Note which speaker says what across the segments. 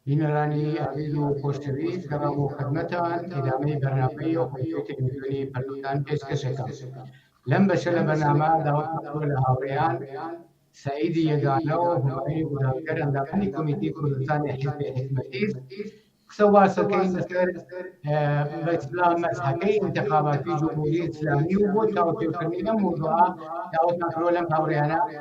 Speaker 1: بینەرانی ئازیز و خۆشەویست گەڕام بۆ خدمەتان ئیدامەی بەرنامەی ئەو بەشەی تەلەفزیۆنی پەرلوتان پێشکەش ئەکەم لەم بەشە لە بەرنامە داوام لە هاوڕێیان سعیدی یەگانە و هومای گوناهکەر ئەندامانی کۆمیتی کوردستانی حزب حکمەتیز قسە واسەکەی لەسەر بە ئیسلام مەزهەکەی ئینتقاماتی جمهوری ئیسلامی و بۆ تاوتێکردنی ئەم موضوعە داوتمان کرۆ لەم هاوڕێیانە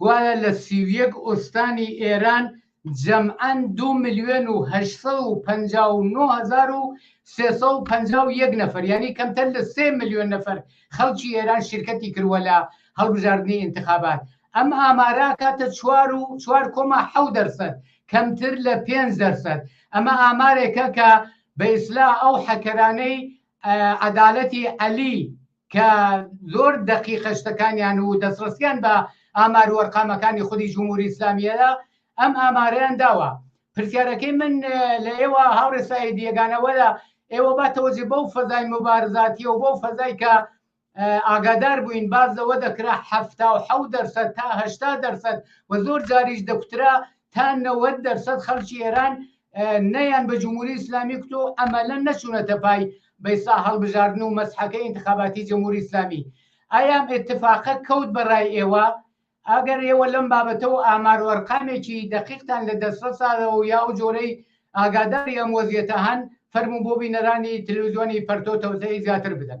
Speaker 1: گوایە لە سی و یەک ئوستانی ئێران جەمعەن دوو ملیۆن و هەشت سەد و پەنجا و نۆ هەزار و سێ سەد و پەنجا و یەک نەفەر یانی کەمتەر لە سێ ملیۆن نەفەر خەڵکی ئێران شیرکەتی کردووە لە هەڵبژاردنی ئینتخابات ئەم ئامارە ئەکاتە چوار و چوار کۆما حەو دەرسەد کەمتر لە پێنج دەرسەد ئەمە ئامارێکە کە بە ئیسلا ئەو حەکەرانەی عەدالەتی عەلی کە زۆر دەقیقە شتەکانیان و دەستڕستیان بە ئامار و وەرقامەکانی خودی جمهوری ئیسلامیەدا ئەم ئامارەیان داوە پرسیارەکەی من لە ئێوە هاوڕێ سعید یەگانەوەدا ئێوە با تەوەجێ بەو فەزای مبارزاتی و بەو فەزای کە ئاگادار بووین باز لەوە دەکرا هەفتا و حەو دەرسەد تا هەشتا دەرسەد و زۆر جاریش دەکوترا تا نەوەد دەرسەد خەڵکی ئێران نەیان بە جمهوری ئیسلامی کوت و ئەمەلە نەچوونەتە پای بەیسا هەڵبژاردن و مەسحەکە ئینتخاباتی جمهوری ئیسلامی ئایام اتفاقە کەوت بە ڕای ئێوە ئەگەر ئێوە لەم بابەتەوە ئامار و ئەرقامێکی دەقیقتان لە دەستڕساەوە یا و جۆرەی ئاگاداری ئەم وەزیێتە هەن فەرمو بۆ بینەرانی تلویزیۆنی پەرتۆ تەوزەی زیاتر بدەن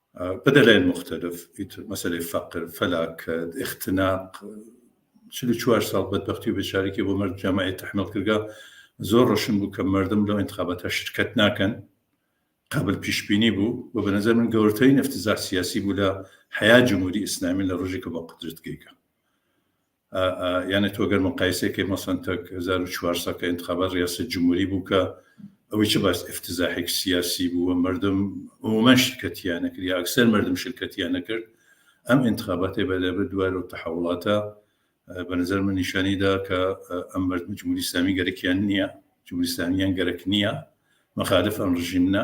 Speaker 2: بدەلەیل موختەلف ئیتر مەسەلەی فەقر، فەلاکەت، ئختناق، چل و چوار ساڵ بەدبەختی و بێچارەکی بۆ مەرد جامعەی تەحمیڵ کردگە، زۆر ڕۆشن بوو کە مەردم لەو ئینتخاباتە شرکەت ناکەن، قابل پیشبینی بوو و بە نەزەر من گەورترین افتزاح سیاسی بوو لە حەیات جمهوری ئیسلامی لە ڕۆژیگ کە بە قودرەت گەیگە. یانێ تۆ گەر مقایسەی کەی مەسەن تەک هەزار و چوار سەد کە ئینتخابات ڕیاسەت جموری بوو کە ئەوەی چ باس ئفتزاحێک سیاسی بوو و مردم عمومەن شرکەتیانە کرد یا ئەکسەر مردم شرکەتیانە کرد ئەم ئینتخاباتێ بە لەبر دوای و تەحوڵاتە بە نظر من نیشانی دا کە ئەم مردم جمهوری ئیسلامی گەرەکیان نییە جمهوری ئیسلامیان گەرەک نییە مخالف ئەم ڕژیمنە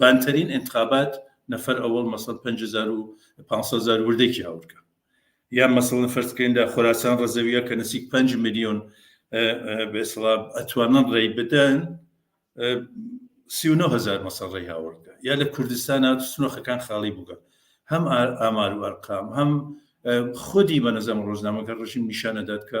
Speaker 2: بانترین انتخابات نفر اول مەسەڵەن پەنج هەزار و پانسەد هەزار وردەکی هاورکە یان مەسەڵەن فەرز بکەین لە خۆراسان ڕەزەویە کە نزیک پەنج ملیۆن بێسڵا ئەتوانن ڕێی بدەن سی و نۆ هەزار مەسەڵ ڕێی هاوردە یا لە کوردستان سنۆخەکان خاڵی بووگە هەم ئامار و ئەرقام هەم خودی بە نەزەم ڕۆژنامەکە ڕژیم نیشانەدات کە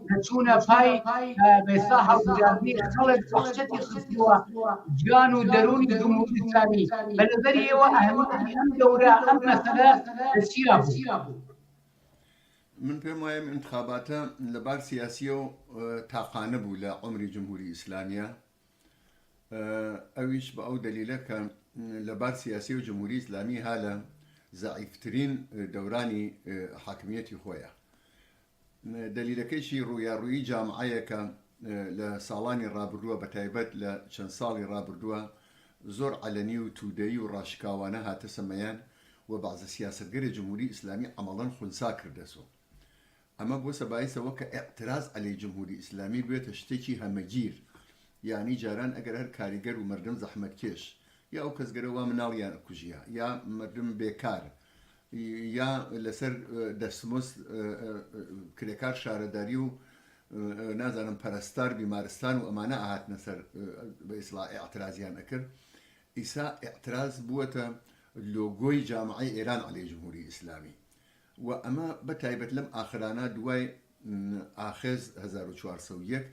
Speaker 1: دەچوونە پای بێسا هەڵبژاردنی خەڵک وحشەتی خستووە جان و دەروونی جمهوریسانی بە نظری
Speaker 3: ئێوە ئەهمیەتی ئەم دەورە ئەم مەسەلە چیا بوو من پێم وایە انتخاباتە لە بار سیاسیە و تاقانە بوو لە عمری جمهوری ئیسلامیە ئەویش بە ئەو دلیلە کە لە بار سیاسی و جمهوری ئیسلامی هالە زعیفترین دەورانی حاکمیەتی خۆیە دەلیلەکەیشی ڕوویاڕوویی جامعەیە کە لە ساڵانی ڕابردووە بە تایبەت لە چەند ساڵی ڕابردووە زۆر عەلەنی و توودەیی و ڕاشکاوانە هاتەسە مەیان و بەعزە سیاسەتگەرێ جمهوری ئیسلامی عەمەڵەن خونسا کردەسۆ. ئەمە بۆسە بایس ئەوە کە ئیعتراز عەلەی جمهوری ئیسلامی بوێتە شتێکی هەمەگیر یانی جاران ئەگەر هەر کاریگەر و مەردم زەحمەتکێش یا ئەو کەسگەرە وا مناڵیان ئەکوژیا یا مەردم بێکار یا لەسەر دەستمزد کرێکار شارەداری و نازانم پەرستار بیمارستان و ئەمانە ئەهاتنە سەر بە ئیسڵاح ئیعترازیان ئەکرد ئیسا ئیعتراز بووەتە لۆگۆی جامعەی ئێران عەلەی جمهوری ئیسلامی و ئەمە بە تایبەت لەم ئاخرانە دوای ئاخێز هەزار و چوار سەد و یەک،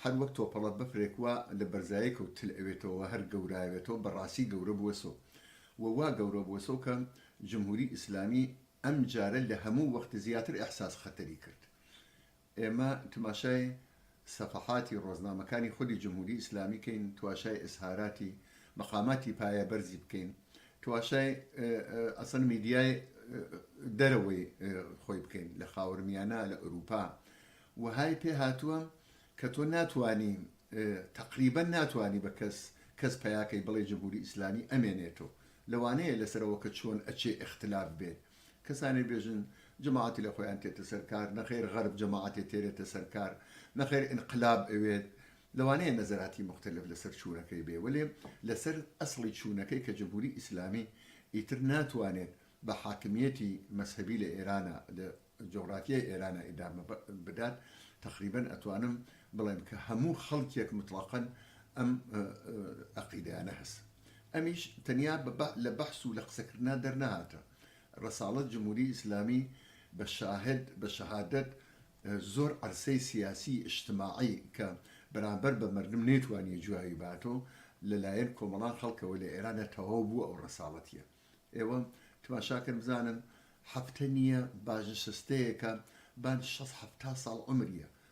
Speaker 3: هەر وەک تۆپەڵە بەفرێک وا لە بەرزایەکەو تل ئەوێتەوە وە هەر گەورایەوێتەوە بە ڕاسی گەورە بوەسۆ وە وا گەورە بوەسۆ کە جمهوری ئیسلامی ئەم جارە لە هەموو وەخت زیاتر ئیحساس خەتەری کرد ئێمە تماشای سەفەحاتی ڕۆزنامەکانی خودی جمهوری ئیسلامی کەین تواشای ئیزهاراتی مەقاماتی پایە بەرزی بکەین تواشای ئەسەن میدیای دەرەوەی خۆی بکەین لە خاورمیانە لە ئەروپا وهای پێ هاتووە کە تۆ ناتانی تقریبا ناتانی بە کەس کەس پیاکەی بڵێ جمهوری ئیسلامی ئەمێنێتەوە لەوانەیە لەسەرەوە کە چۆن ئەچێ اختلاف بێت کەسانێ بێژن جەماعەتی لە خۆیان تێتە سەر کار، نەخێر غەرب جەماعەتێ تێرێتە سەر کار، نەخێر ئینقلاب ئەوێت، لەوانەیە نەزەراتی موختەلەف لەسەر چوونەکەی بێ وەلێ لەسەر ئەسڵی چوونەکەی کە جمهوری ئیسلامی ئیتر ناتوانێت بە حاکمیەتی مەزهەبی لە ئێرانا لە جوغرافیای ئێرانا ئیدامە بدات تەقریبەن ئەتوانم بڵێم کە هەموو خەڵکێک متڵەقەن ئەم ئەقیدەیانە هەست ئەمیش تەنیا لە بەحس و لە قسەکردنا دەرنەهاتە رەساڵەت جمهوری ئیسلامی بە شاهد بە شەهادەت زۆر عەرسەی سیاسی ئیشتماعی کە بەرامبەر بە مەردم نەیتوانیە جواوی باتەوە لە لایەن کۆمەڵان خەڵکەوە لە ئێرانە تەواو بوە ئەو رەساڵەتیە ئێوە تماشا کەن بزانن هەفتە نیە بانشستەیەکە بان شەست هەفتا ساڵ عەمریە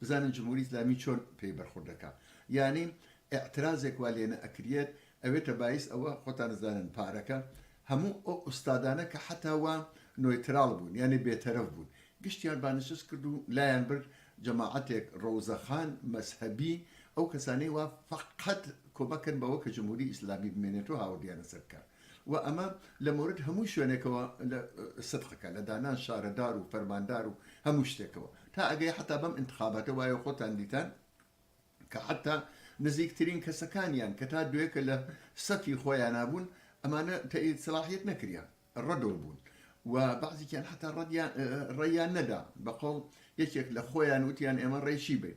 Speaker 3: بزانن جمهوری ئیسلامی چۆن پێی بەرخورد دەکا یانی ئیعترازێک وا لێ نەئەکریەت ئەوێتە بایس ئەوە خۆتان ئەزانن پارەکە هەموو ئەو ئوستادانە کە حەتا وا نۆیتراڵ بوون یانی بێتەرەف بوون گشتیان بانشست کرد و لایان برد جەماعەتێک ڕەوزەخان مەزهەبی ئەو کەسانەی وا فەقەت کۆمەک کەن بەوە کە جمهوری ئیسلامی بمێنێت و هاوردیانە سەر کار وە ئەمە لە مۆرد هەموو شوێنێکەوە لە سدقەکە لە دانان شارەدار و فەرماندار و هەموو شتێکەوە تا ئەگەی حەتا بەم ئینتخاباتە وایە خۆتان دیتان کە حەتا نزیکترین کەسەکانیان کە تا دوێکە لە سەفی خۆیان نابوون ئەمانە تەئید سلاحیت نەکریان ڕەدۆ بوون و بەعزیکیان حتا ڕەدیان ڕێیان نەدا بەقۆڵ یەکێک لە خۆیان وتیان ئێمە ڕێشی بین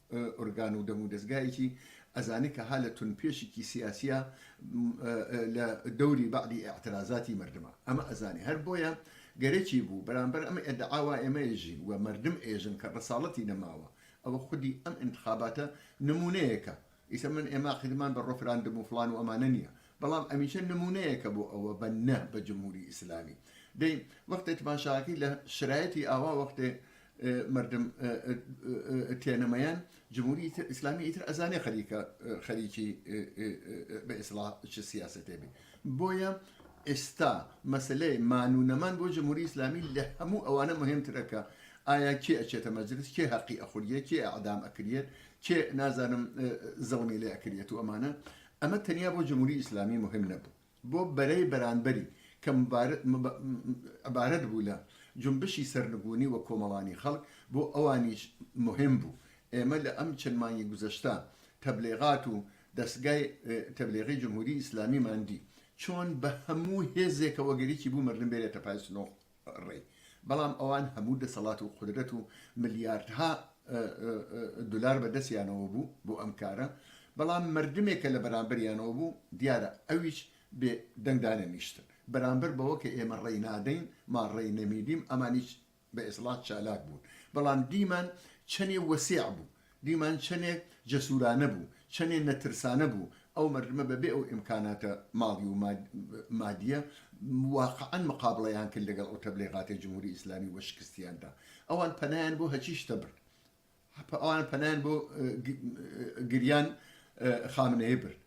Speaker 3: ئورگان و دەم و دەزگایەکی ئەزانی کە ها لە تون پێشیکی سیاسیە لە دەوری بەعدی ئیعترازاتی مەردمە ئەمە ئەزانی هەر بۆیە گەرەکی بوو بەرامبەر ئەم ئێدعاوا ئێمە ئێژین و مەردم ئێژن کە ڕساڵەتی نەماوە ئەوە خودی ئەم ئینتخاباتە نمونەیەکە ئیسە من ئێمە عقیدمان بە ڕفراندم و فڵان و ئەمانە نییە بەڵام ئەمیشە نمونەیەکە بۆ ئەوە بە نە بە جمهوری ئیسلامی دەی وەختێ تماشاکی لە شرایەتی ئاوا وەختێ مردم تێنە مەیان جموری ئیسلامی ئیتر ئەزانێ خەریکە خەریکی بە ئیسلا چ سیاستێ بێ بۆیە ئێستا مەسلەی مان و نەمان بۆ جمهوری ئیسلامی لە هەموو ئەوانە مهمترەکە ئایا کێ ئەچێتە مەجلس کێ هەقی ئەخوریە کێ ئەعدام ئەکرێت کێ نازانم زڵمی لێ ئەکرێت و ئەمانە ئەمە تەنیا بۆ جمهوری ئیسلامی مهم نەبوو بۆ بەرەی بەرانبەری کە عبارەت بوو لە جونبشی سەرنگونی و کۆمەڵانی خەڵک بۆ ئەوانیش موهیم بوو. ئێمە لە ئەم چەند مانگی گوزەشتە تەبلیغات و دەستگای تەبلیغی جمهوری ئیسلامیمان دی چۆن بە هەموو هێزێکەوە گەریکی بوو مەردم بێرێتە پای سنووڕ. ڕێی بەڵام ئەوان هەموو دەسەڵات و قودرەت و ملیاردها دولار بە دەسیانەوە بوو بۆ ئەم کارە بەڵام مردمێک کە لە بەرامبەریانەوە بوو دیارە ئەویش بێ دەنگ دانەنیشتن بەرامبەر بەوە کە ئێمە ڕێی نادەین ما ڕێی نەمیدیم ئەمانیش بە ئێسڵاح چالاک بوون بەڵام دیمان چەنێ وەسیع بوو دیمەن چەنێ جەسورانە بوو چەنێ نەترسانە بوو ئەو مردمە بە بێ ئەو ئیمکاناتە ماڵی و مادیە واقعەن مقابڵەیان کرد لەگەڵ ئەو تەبلیغاتە جمهوری ئیسلامی و بە شکستیان دا ئەوان پەنایان بۆ هەچی شتە برد ئەوان پەنایان بۆ گریان خامنەیە برد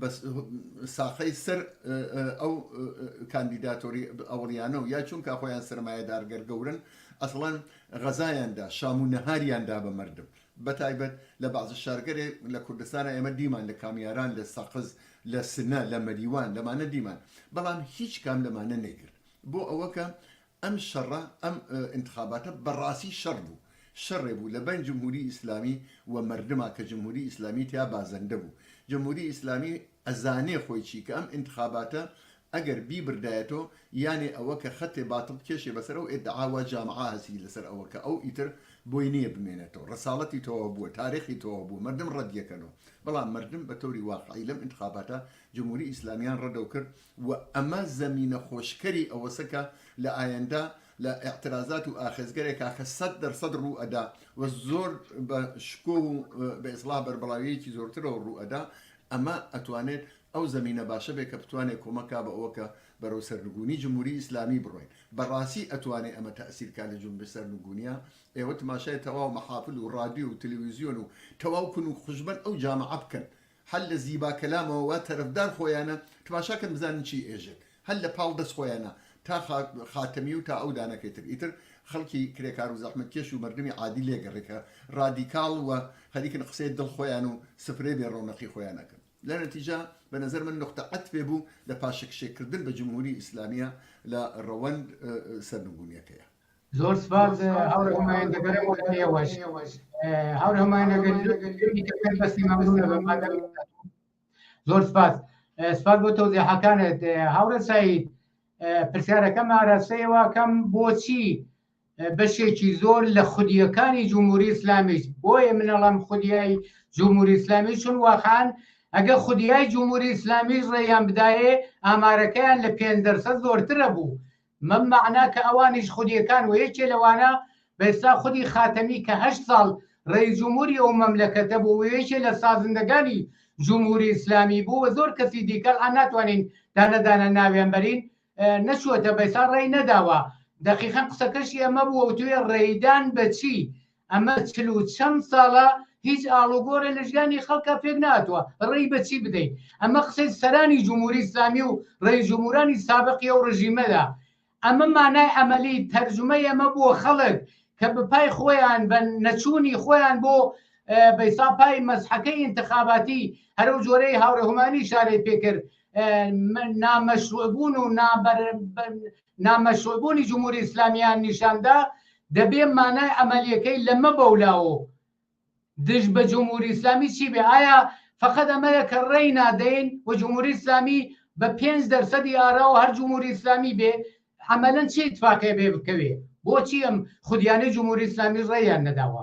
Speaker 3: بەس ساقەی سەر ئەو کاندیداتۆری ئەوڵیانە و یا چونکە خۆیان سرمایەدار گەر گەورن ئەسڵەن غەزایاندا شام و نەهاریاندا بە مردم بە تایبەت لە بازە شارگەرێ لە کوردستانە ئێمە دیمان لە کامیاران لە سەقز لە سنە لە مەریوان لەمانە دیمان بەڵام هیچ کام لەمانە نەیکرد بۆ ئەوەکە ئەم شەڕە ئەم ئینتخاباتە بەڕاسی شەڕ بوو شەڕێ بوو لە بەین جمهوری ئیسلامی و مەردما کە جمهوری ئیسلامی تیا بازەندە بوو جمهوری ئیسلامی ئەزانێ خۆی چی کە ئەم ئینتخاباتە ئەگەر بیبردایەتۆ یانێ ئەوە کە خەتێ باتڵ کێشێ بەسەر ئەو ئێدعا وا جامعە هەسی لەسەر ئەوە کە ئەو ئیتر بۆی نیە بمێنێتۆ ڕەساڵەتی تەواو بووە تارێخی تەواو بووە مەردم ڕەدیەکەنۆ بەڵام مەردم بە تەوری واقعی لەم ئینتخاباتە جمهوری ئیسلامیان ڕەدەو کرد و ئەمە زەمینە خۆشکەری ئەوەسە کە لە ئایندە لە ئیعترازات و ئاخێزگەرێکا کە سەد دەر سەد ڕوو ئەدا و زۆر بە شکۆ و بە ئیسڵاح بەربڵاویەکی زۆرترەوە ڕوو ئەدا ئەمە ئەتوانێت ئەو زەمینە باشە بێت کە بتوانێت کۆمەک کا بە ئەوە کە بەرەو سەرنگوونی جمهوری ئیسلامی بڕۆین بە ڕاسی ئەتوانێت ئەمە تەئسیر کا لە جونبش سەرنگوونیە ئێوە تماشای تەواو مەحافل و ڕادیۆ و تلویزیۆن و تەواو کون و خوشبەن ئەو جامعە بکەن هەر لە زیبا کەلامەوە وا تەرەفدار خۆیانە، تماشا کەن بزانن چی ئێژێ، هەر لە پاڵ دەست خۆیانە تا خاتەمی و تا ئەو دانەکەی تر، ئیتر خەڵکی کرێکار و زەحمەتکێش و مەردمی عادی لێگەڕێ کە ڕادیکاڵ و خەریکن قسەی دڵ خۆیان و سفرەی بێ ڕەونەقی خۆیان ئەکەن. لە نەتیجە بە نەزەر من نوقتە عەتفێ بوو لە پاشەکشێ کردن بە جمهوری ئیسلامیە لە ڕەوەند سەرنگونیەکەیا. زۆر
Speaker 1: سپاس هاوڕێ هومایون دەگەڕێمەوە بۆ ئێوەش هاوڕێ هومایون ئەگەر جوێنی کە پێت بەستی مەمنونە بە مادەم زۆر سپاس سپاس بۆ تەوزیحەکانت هاوڕێ سعید پرسیارەکەم ئاراستەیەوە کەم بۆچی بەشێکی زۆر لە خودیەکانی جمهوری ئسلامیش بۆیە منەڵام خودیایی جمهوری ئسلامی چون واخان ئەگە خودیای جمهوری ئسلامیش ڕێیان بدایێ ئامارەکەیان لە پێ دەرسە زۆرترە بوو مەم مەعنا کە ئەوانیش خودیەکان وە یەکێ لەوانە بە ئێستا خودی خاتەمی کە هەشت ساڵ ڕێی جموری ئەو مەملەکەتە بوو وە یەکێ لە سازندەگانی جمهوری ئیسلامی بوو وە زۆر کەسی دیکە ئەلئان ناتوانین دانە دانە ناویان بەرین نەچوەتە بە ئێستا ڕێی نەداوە دەقیقەن قسەکەشی ئەمە بووە وتوێ ڕێیدان بە چی ئەمە چل و چەند ساڵە هیچ ئاڵوگۆڕێ لە ژیانی خەڵکە پێک ناتوە ڕێی بەچی بدەین ئەمە قسەی سەرانی جمهوری ئیسلامی و ڕێی جمهورانی سابقی و ڕژیمەدا ئەمە مانای ئەمەلی تەرجمەی ئەمە بۆ خەڵک کە بپای خۆیان بە نەچوونی خۆیان بۆ بەیسا پای مەزحەکەی انتخاباتی هەرو جۆرەی هاوڕهمانی شارەی پێکرد نامەشروع بوون و نامەشرووعبوونی جمهوری ئیسلامییان نیشان دا، دەبێ مانای عەمەلییەکەی لەمە بەولاوە و دژ بە جمهوری ئیسلامی چی بێ؟ ئایا فەقەت ئەمەیە کە ڕێی نادەین و جمهوری ئیسلامی بە پێنج دەرسەدی ئاراوە هەر جمهوری ئیسلامی بێ؟ عەمەلەن چ ئیتفاقێ بێ بکەوێ؟ بۆچی ئەم خودیانەی جمهوری ئیسلامیش ڕێیان نەداوە؟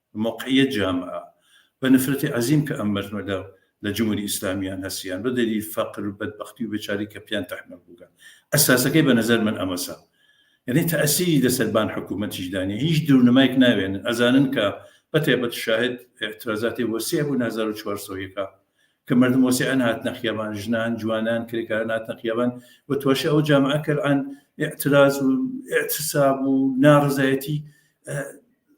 Speaker 2: موقعیە جامعە و نفرت عظیم کە ئەم مردمە لە لە جمهوری ئیسلامیان هەسیان بە دەلیل فقر و بەدبەختی و بێچاری کە پیان تحمل بوگە ئەساسەکەی بە نەزەر من ئەمەسە یەنی تاسیری لە سەر بان حکومەتیش دانیە هیچ درونمایک ناوێنن ئەزانن کە بە تایبەت شاهد اعترازاتی وەسیع بون هەزار و چوار سەد و یەک کە مردم وەسیعان هاتنە خیابان ژنان جوانان کرێکاران هاتنە خیابان و تواشی ئەو جامعە کەران اعتراز و اعتساب و نارزایەتی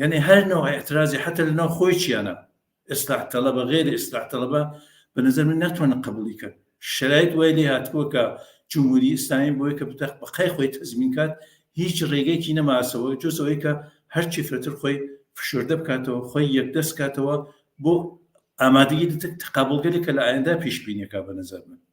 Speaker 2: یەنی هەر نەوع ئیعترازی حەتە لەناو خۆی چیانە ئیسلاح تەڵەبە غەیری ئیسلاح تەڵەبە بە نەزەر من ناتوانن قبوڵی کەن شەرایط وای لێ هاتووە کە جمهوری ئیسلامی بۆیە کە بتەق بەقای خۆی تەزمین کات هیچ ڕێگەیەکی نەماسەوە جۆز ئەوەی کە هەرچی فرەتر خۆی فشۆردە بکاتەوە خۆی یەکدەست کاتەوە بۆ ئامادەگی دەتێک تقابڵگەلێک کە لە ئایندە پیشبینیەکە بە نەزەر من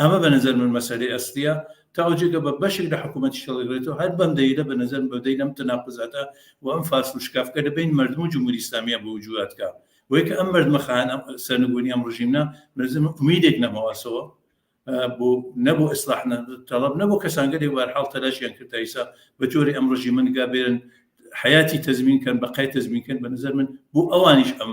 Speaker 2: ئەمە بە نەزەر من مەسەلەی ئەسلیە تاوە جێگە بە بەشێک لە حکوومەتیش هەڵیڕێتەوە هەر بەم دەیلە بە نەزەر من بە دەیل ئەم تەناقوزاتە و ئەم فاسڵ و شکافکە لە بەین مەردم و جمهووری ئیسلامییە بە وجوو ئەتکا وەی کە ئەم مەردمە خایەن ئەم سەرنگوونی ئەم ڕژیمە بە نەزەر من ئومیدێک نەماوەسەوە بۆ نە بۆ ئیسلاح تەڵەب نە بۆ کەسانگەلێک بە هەر حاڵ تەلاشیان کرد تا ئیسا بە جۆرێ ئەم ڕژیمە نگا بێرن حیاتی تەزمین کەن بە قای تەزمین کەن بە نەزەر من بۆ ئەوانیش ئەم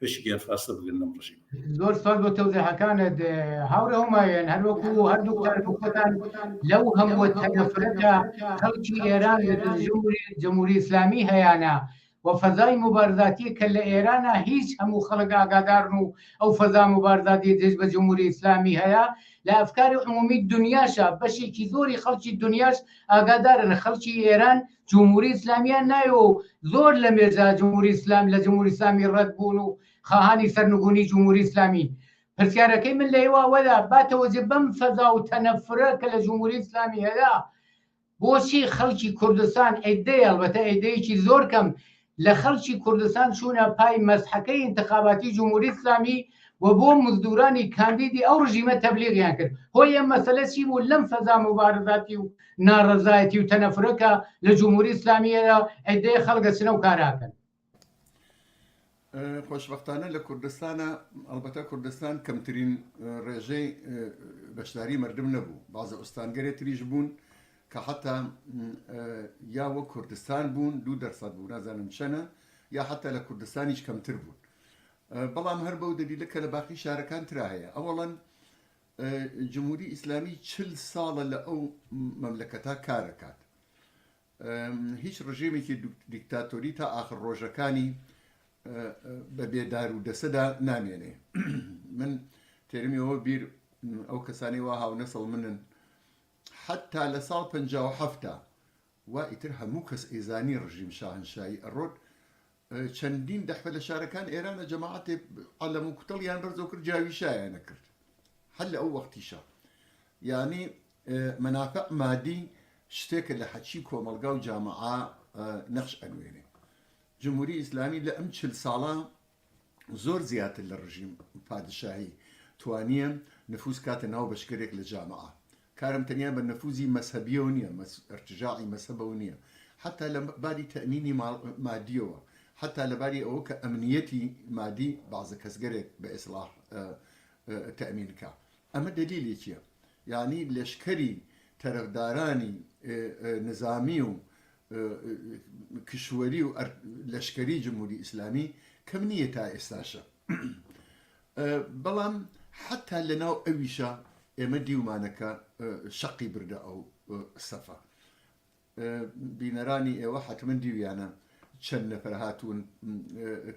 Speaker 2: پێشی گیان فاستە بگرن لەم ڕژیم زۆر سال بۆ
Speaker 1: تەوزەحەکانت هاوڕێ هەمایەن هەروەکو هەردوو کاربکتان لەو هەمووە تەنەفرەتە خەڵکی ئێران جمهوری ئسلامی هەیەە و فەزای مبارزاتی کە لە ئێرانە هیچ هەموو خەڵک ئاگادارن و ئەو فەزا مبارزاتی دژ بە جمهوری ئسلامی هەیە لە ئەفکاری عمومی دنیاشە بەشێکی زۆری خەڵکی دنیاش ئاگادارن خەڵکی ئێران جمهوری ئیسلامیان نایەوە و زۆر لە مێژە جمهوری ئیسلام لە جمهوری ئیسلامی ڕەت بوون و خاهانی سەرنگونی جمهوری ئیسلامین پرسیارەکەی من لە ئێوە ئەوەدا با تەوەجێ بەم فەزا و تەنەفرە کە لە جمهوری ئیسلامی هەیە بۆچی خەڵکی کوردستان ئەیدەی هەڵبەتە ئەیدەیەکی زۆر کەم لە خەڵکی کوردستان چوونە پای مەسحەکەی ئینتخاباتی جمهوری ئیسلامی و بۆ مزدورانی کاندیدی ئەو ڕژیمە تەبلیغیان کرد هۆی ئەم مەسەلە چی بوو لەم فەزا مبارزاتی و ناڕەزایەتی و تەنەفرەکە لە جمهوری ئیسلامیەدا ئەدەیە خەڵگە چنە و کاراکەن
Speaker 3: خۆشببختانە لە کوردستانە ئەڵبەتە کوردستان کەمترین ڕێژەی بەشداری مردم نەبوو بازە ئوستانگەرێ تریش بوون کە حەتا یا وەک کوردستان بوون دوو دەرسەد بوو نازانم چەنە یا حەتا لە کوردستانیش کەمتر بوون بەڵام هەر بەو دەلیلە کە لە باقی شارەکان تررا هەیە ئەوەڵەن جمهوری ئیسلامی چل ساڵە لە ئەو مەملەکەتا کارەکات هیچ ڕژێمێکی دیکتاتۆری تا ئاخر ڕۆژەکانی بە بێدار و دەسەدا نامێنێ من تێرمیەوە بیر ئەو کەسانی وا هاونەسەڵ منن حەتتا لە ساڵ پەنجا و حەفت وا ئیتر هەموو کەس ئەیزانی ڕژیم شاهەنشایی ئەڕۆت، چەندین دەحپە لە شارەکان ئێرانە جەماعەتێ عەلەم و کوتەڵیان بەرزەو کرد جاویشایانە کرد هەر لە ئەو وەختیشە یانی منافع مادی شتێکە لە حەچی کۆمەڵگا و جامعا نەخش ئەنوێنێ جمهوری ئیسلامی لە ئەم چل ساڵە زۆر زیاتر لە ڕژیم پادشاهی توانیە نفوز کاتە ناو بەشکەرێک لە جامعە کارم تەنیا بە نفوزی مەسەبیەوە نیە مەس ارتجاعی مەسەبەوە نیە حتا لە باری تەئمینی ماڵ مادیەوە حتا لە باری ئەوە کە ئەمنیەتی مادی بازە کەسگەرێک بە ئێسڵاح تەئمین کا ئەمە دەلیلی چیە یعنی لەشکەری تەرفدارانی نزامی و کشوەری و لەشکەری جمهوری ئیسلامی کەم نییە تا ئێستاشە بەڵام حتا لەناو ئەویشە ئێمە دیومانەکە شەقی بردە ئەو سەفە بینەرانی ئێوە حتممە دیویانە چەند نەفر هاتوون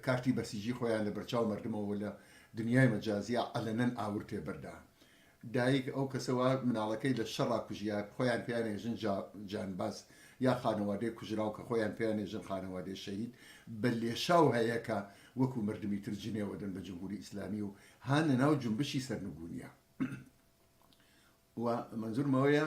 Speaker 3: کارتی بەسیجی خۆیان لە بەرچاو مردمەوە لە دنیای مەجازیا ئەلەنەن ئاور تێبەردان دایک، ئەو کەسە وا مناڵەکەی لە شەڕا کوژیە کە خۆیان پێیانێژن جا جانباز یا خانەوادەی کوژراو کە خۆیان پێیانێژن خانەوادەی شەهید بە لێشاو هەیە کە وەکو مردمی تر جنێوەدەن بە جمهوری ئیسلامی و هان لە ناو جونبشی سەرنگونیا و مەنزورم ئەوەیە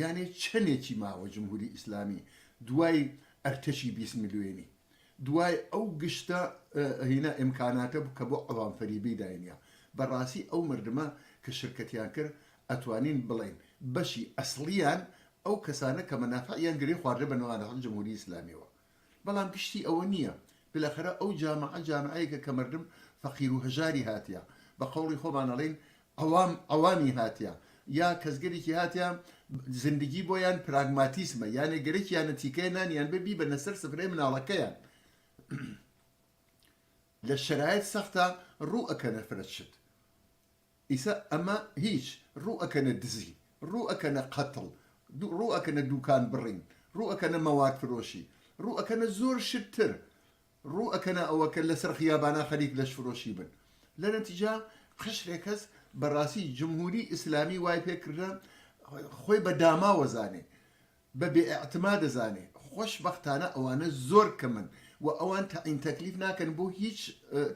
Speaker 3: یانێ چەنێکی ماوە جمهوری ئیسلامی دوای ئەرتەشی بیست ملوێنی دوای ئەو گشتە هینا ئیمکاناتە کە بۆ عەوام فەریبی داینیا بەڕاسی ئەو مردمە کە شرکەتیان کرد ئەتوانین بڵێین بەشی ئەسڵیان ئەو کەسانە کە مەنافعیان گرێ خواردە بە نوانەحق جمهوری ئیسلامیەوە بەڵام گشتی ئەوە نییە. بلەخەرە ئەو جامعە جامعەیەکە کە مردم فەقیر و هەژاری هاتیە، بە قەوڵی خۆمان ئەڵێین عەوام عەوامی هاتیە، یا کەسگەلێکی هاتیە زندگی بۆیان پراگماتیسمە، یانێ گەرەکیانە تیکەیە نانیان بێ بیبەنە سەر سفرەی مناڵەکەیان. لە شەرایت سەختە ڕوو ئەکەنە فرە شت. ئیسە ئەمە هیچ، ڕوو ئەکەنە دزی، ڕوو ئەکەنە قەتڵ، ڕوو ئەکەنە دووکان بڕین، ڕوو ئەکەنە مەواد فرۆشی، ڕوو ئەکەنە زۆر شت تر، ڕوو ئەکەنە ئەوە کە لە سەر خیابانا خەریک لەش فرۆشی بن. لە نەتیجە قەشرێ کەس بە ڕاستی جمهووری ئیسلامی وای پێ کردە خۆی بە داماوە زانێ بە بێ ئیعتما دەزانێ خۆش بەختانە ئەوانە زۆر کەمن وە ئەوان تەعین تەکلیف ناکەن بۆ هیچ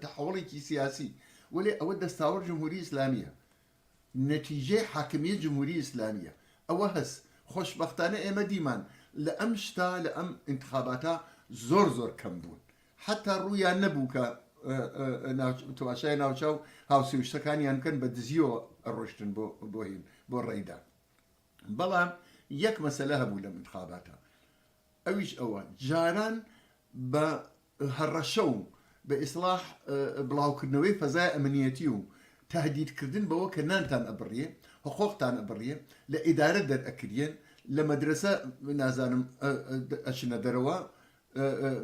Speaker 3: تەحوڵێکی سیاسی وەلێ ئەوە دەستاوەر جمهوری ئیسلامیە نەتیجەی حاکمیە جمهوری ئیسلامیە ئەوە هەس خۆش بەختانە ئێمە دیمان لە ئەم شتە لە ئەم ئینتخاباتە زۆر زۆر کەم بوون حتا ڕوویان نەبوو کە تواشای ناوچاو هاوسێوشتەکانیان بکەن بە دزیەوە ڕۆشتن بۆ بۆهین بۆ ڕێدان بەڵام یەک مەسەلە هەبوو لەم انتخاباتە ئەویش ئەوە جاران بە هەڕەشە و بە ئیسلاح بڵاوکردنەوەی فەزای ئەمنیەتی و تهدیدکردن بەوە کە نانتان ئەبڕیێ حقۆقتان ئەبڕیێ لە ئیدارە دەرئەکریێن لە مەدرسە نازانم ئەچنە دەرەوە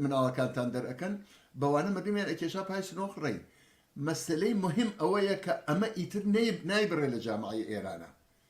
Speaker 3: مناڵەکانتان دەرەکەن بەوانە مردمیان ئەکێشا پای سنۆخ ڕێی مەسلەی مهم ئەوەیە کە ئەمە ئیتر نایبڕێ لە جامعی ئێرانە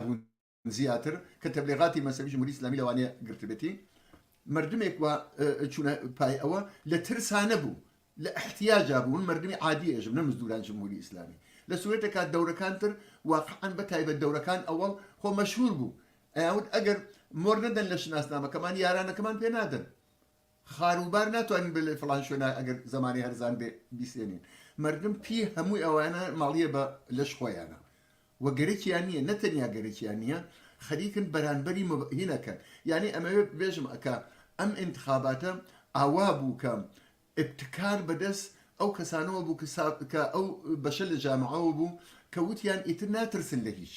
Speaker 3: هون زیاتر کە تەبلیغاتی مەسەوی جمهوری ئیسلامی لەوانەیە گرتبێتی مردمێک و چونە پای ئەوە لە ترسانە بوو لە احتیاجا بوون مردمی عادی ئێژم نە مزدوران جمهوری ئیسلامی لە سوێتەکە دەورەکان تر واقعان بە تایبەت دەورەکان ئەوەڵ خۆ مەشهور بوو ئەیاوت ئەگەر مۆر نەدەن لە شناسنامەکەمان یارانەکەمان پێ نادەن خاروبار ناتوانین بلێ فلان شوێنە ئەگەر زمانی هەرزان بێ بیسێنین مردم پی هەمووی ئەوانە ماڵیە بە لەش خۆیانە و گەرەکیان نییە نەتەنیا گەرەکیان نییە خەریکن بەرانبەری هینەکەن یعنی ئەمەوێ بێژم ئەکا ئەم انتخاباتە ئاوا بوو کە ابتکار بەدەست ئەو کەسانەوە بوو کە ئەو بەشە لە جامعەوە بوو کە وتیان ئیتر ناترسن لە هیچ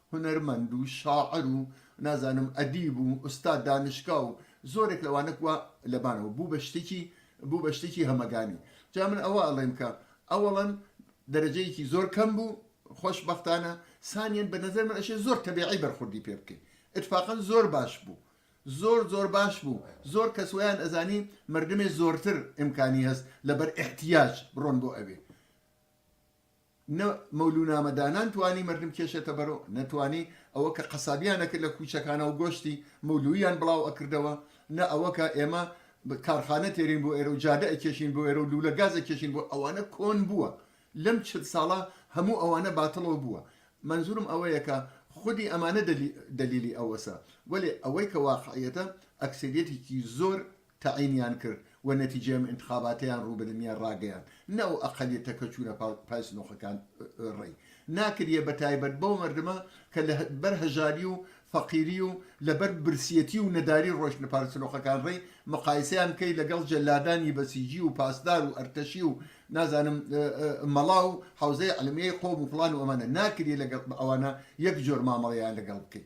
Speaker 3: هونەرمەند و شاعر و نازانم ئەدیب و ئوستاد دانشگا و زۆرێک لەوانە کوا لەبانەوە بوو بە شتێکی بوو بە شتێکی هەمەگانی جا من ئەوە ئەڵێم کە ئەوەڵەن دەرەجەیەکی زۆر کەم بوو خۆش بەختانە سانیان بە نظر من ئەشێ زۆر تەبیعی بەرخوردی پێ بکەین اتفاقا زۆر باش بوو زۆر زۆر باش بوو زۆر کەس ویان ئەزانی مردمێ زۆرتر ئیمکانی هەست لەبەر احتیاج بڕۆن بۆ ئەوێ نە مەولوونامەدانان توانی مەردم کێشێتە بەرو، نە توانی ئەوە کە قەسابیان ئەکرد لە کووچەکانا و گۆشتی مەولووییان بڵاو ئەکردەوە، نە ئەوە کە ئێمە کارخانە تێرین بۆ ئێرە و جادە ئەکێشین بۆ ئێرە و لوولە گاز ئەکێشین بۆ ئەوانە کۆن بووە، لەم چل ساڵە هەموو ئەوانە باتڵەو بووە. مەنزوورم ئەوەیە کە خودی ئەمانە دەلیلی ئەوەسە، وەلێ ئەوەی کە واقعیەتە ئەکسەریەتێکی زۆر تەعینیان کرد و نەتیجەی ئەم ئینتخاباتەیان ڕوو بە دنیا ڕاگەیاند نە ئەو ئەقەلیەتە کە چوونە پای سنوقەکان ڕێی ناکریە بە تایبەت بەو مەردمە کە لە بەر هەژاری و فەقیری و لە بەر برسیەتی و نەداری ڕۆشتنە پار سنوقەکان ڕێی مقایسەیان بکەی لەگەڵ جەلادانی بەسیجی و پاسدار و ئەرتەشی و نازانم مەڵا و حەوزەی عەلمیەی قۆم و فڵان و ئەمانە ناکریە لەگەڵ ئەوانە یەک جۆر مامەڵەیان لەگەڵ بکەی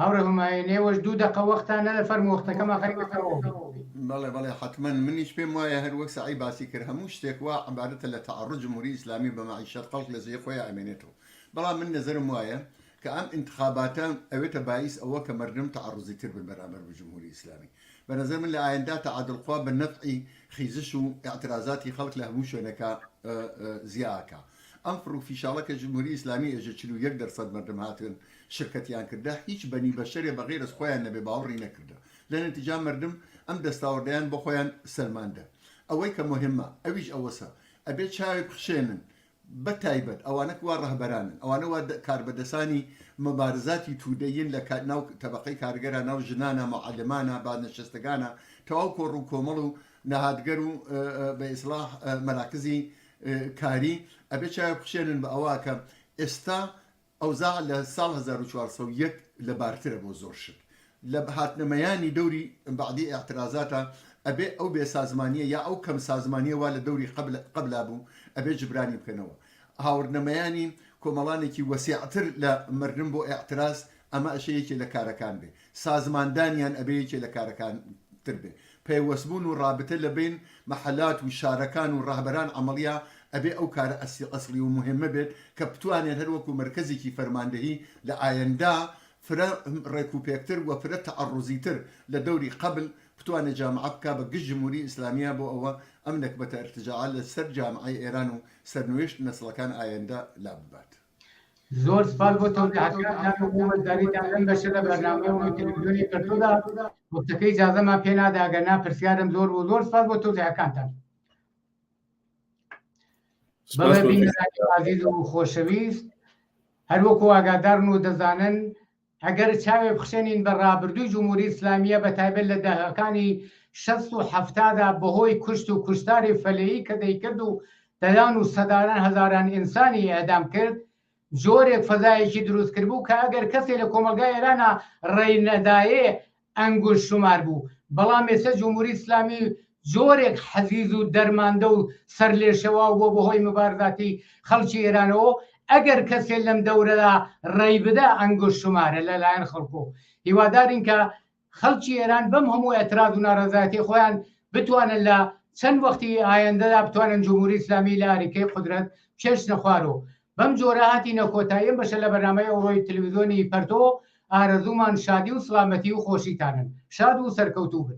Speaker 1: هاوڕێ هۆماێ نێوەش دوو دەقە وەختە نەدە فەرموو وەختەکەم ئاخەر ئێستا تەواو بێ. بەڵێ بەڵێ
Speaker 3: حەتمەن منیش پێم وایە هەر وەک سەعی باسی کرد هەموو شتێک وا عەبارەتە لە تەعەڕوج جمهوری ئیسلامی بە مەعیشەت خەڵک لە جێی خۆیا ئەمێنێتەوە بەڵام من نەزەرم وایە کە ئەم ئینتخاباتە ئەوێتە بایس ئەوە کە مەردم تەعەڕوزی تر بن بەرامبەر بە جمهوری ئیسلامی بە نەزەر من لە ئایندا تەعادل خوا بە نەفعی خیزش و ئیعترازاتی خەڵک لە هەموو شوێنەکا زیا ئەکا ئەم فڕ و فیشاڵە کە جمهوری ئیسلامی ئێژێ چل و یەک دەر سەد مەردم هاتن شرکەتیان کردە هیچ بەنی بەشەرێ بە غەیرەز خۆیان نەبێ باوڕی نەکردە لە نەتیجا مەردم ئەم دەستاوەردەیان بۆ خۆیان سەلماندە ئەوەی کە موهمە ئەویش ئەوەسە ئەبێ چاوێ بخشێنن بە تایبەت ئەوانە کوا ڕەهبەرانن ئەوانە وا کاربەدەسانی مبارزاتی تودە ین لە ناو تەبەقەی کارگەرا ناو ژنانە معەلمانە بازنەشەستەگانە تەواو کۆڕ و کۆمەڵ و نەهادگەر و بە ئیسڵاح مەراکزی کاری، ئەبێ چاوێک بخشێنن بە ئەوە کە ئێستا ئەوزاع لە ساڵ هەزار و چوار سەد و یەک لە بارترە بۆ زۆر شت لە هاتنە مەیانی دەوری بەعدی ئیعترازاتە ئەبێ ئەو بێ سازمانیە یا ئەو کەم سازمانیە وا لە دەوری قبل قبلا بوو ئەبێ جبرانی بکەنەوە هاوردنە مەیانی کۆمەڵانێکی وەسیعتر لە مردن بۆ ئیعتراز ئەمە ئەشەیەکی لە کارەکان بێ سازماندانیان ئەبێ یەکێ لە کارەکان تر بێ پەیوەست بوون و ڕابتە لە بین مەحەلات و شارەکان و ڕەهبەران عەمەڵیە ئەبێ ئەو کارە ئەسل ئەسڵی و موهێمە بێت کە بتوانێت هەر وەکوو مەرکەزێکی فەرماندەهی لە ئایەندا فرە ڕێک و پێکتر و فرە تەعەڕوزی تر لە دەوری قەبل بتوانێت جامعە بکا بە گشت جموری ئیسلامیە بۆ ئەوە ئەم نەکبەتە ئرتجاعە لە سەر جامعەی ئێران و سەرنوێشت نەسڵەکان ئایەندە لا ببات. زۆر
Speaker 1: سپاس بۆ تەوزیحەتەکانتان و بۆ وەزداریتان لەم بەشە لە بەرنامەی ڕۆی تەلەڤیزیۆنی پەرتودا وەختەکەی ئیجازەمان پێ نادا ئەگەر نا پرسیارم زۆر بۆ زۆر سپاس بۆ تەوزیحەکانتان سپاس بەڵێ بۆ بینەرانی ئازیز و خۆشەویست هەروەکو ئاگادارن و دەزانن ئەگەر چاوێ بخشێنین بە ڕابردووی جمهوری ئیسلامییە بە تایبەت لە دەهەکانی شەست و حەفتادا بە هۆی کوشت و کوشتاری فەلەیی کە دەیکرد و دەیان و سەدان هەزاران ئینسانی ئێعدام کرد جۆرێک فەزایەکی دروست کردبوو کە ئەگەر کەسێ لە کۆمەڵگای ئێرانا ڕێی نەدایێ ئەنگوش شومار بوو، بەڵام ئێستا جمهوری ئیسلامی جۆرێک حەزیز و دەرماندە و سەرلێشێواو بووە بەهۆی موبارزاتی خەڵکی ئێرانەوە و ئەگەر کەسێ لەم دەورەدا ڕێی بدا ئەنگوش شومارە لە لایەن خەڵکۆ و هیوادارین کە خەڵکی ئێران بەم هەموو ئێتراز و نارەزایەتی خۆیان بتوانن لە چەند وەختی ئایەندەدا بتوانن جمهوری ئیسلامی لە ئاریکەی قودرەت بکێشنە خوار و بەم جۆرە هاتینە کۆتایی ئەم بەشە لە بەرنامەی ئەوڕۆی تلویزۆنی پەرتۆ، ئارەزوومان شادی و سڵامەتی و خۆشیتانن. شاد و سەرکەوتوو بن.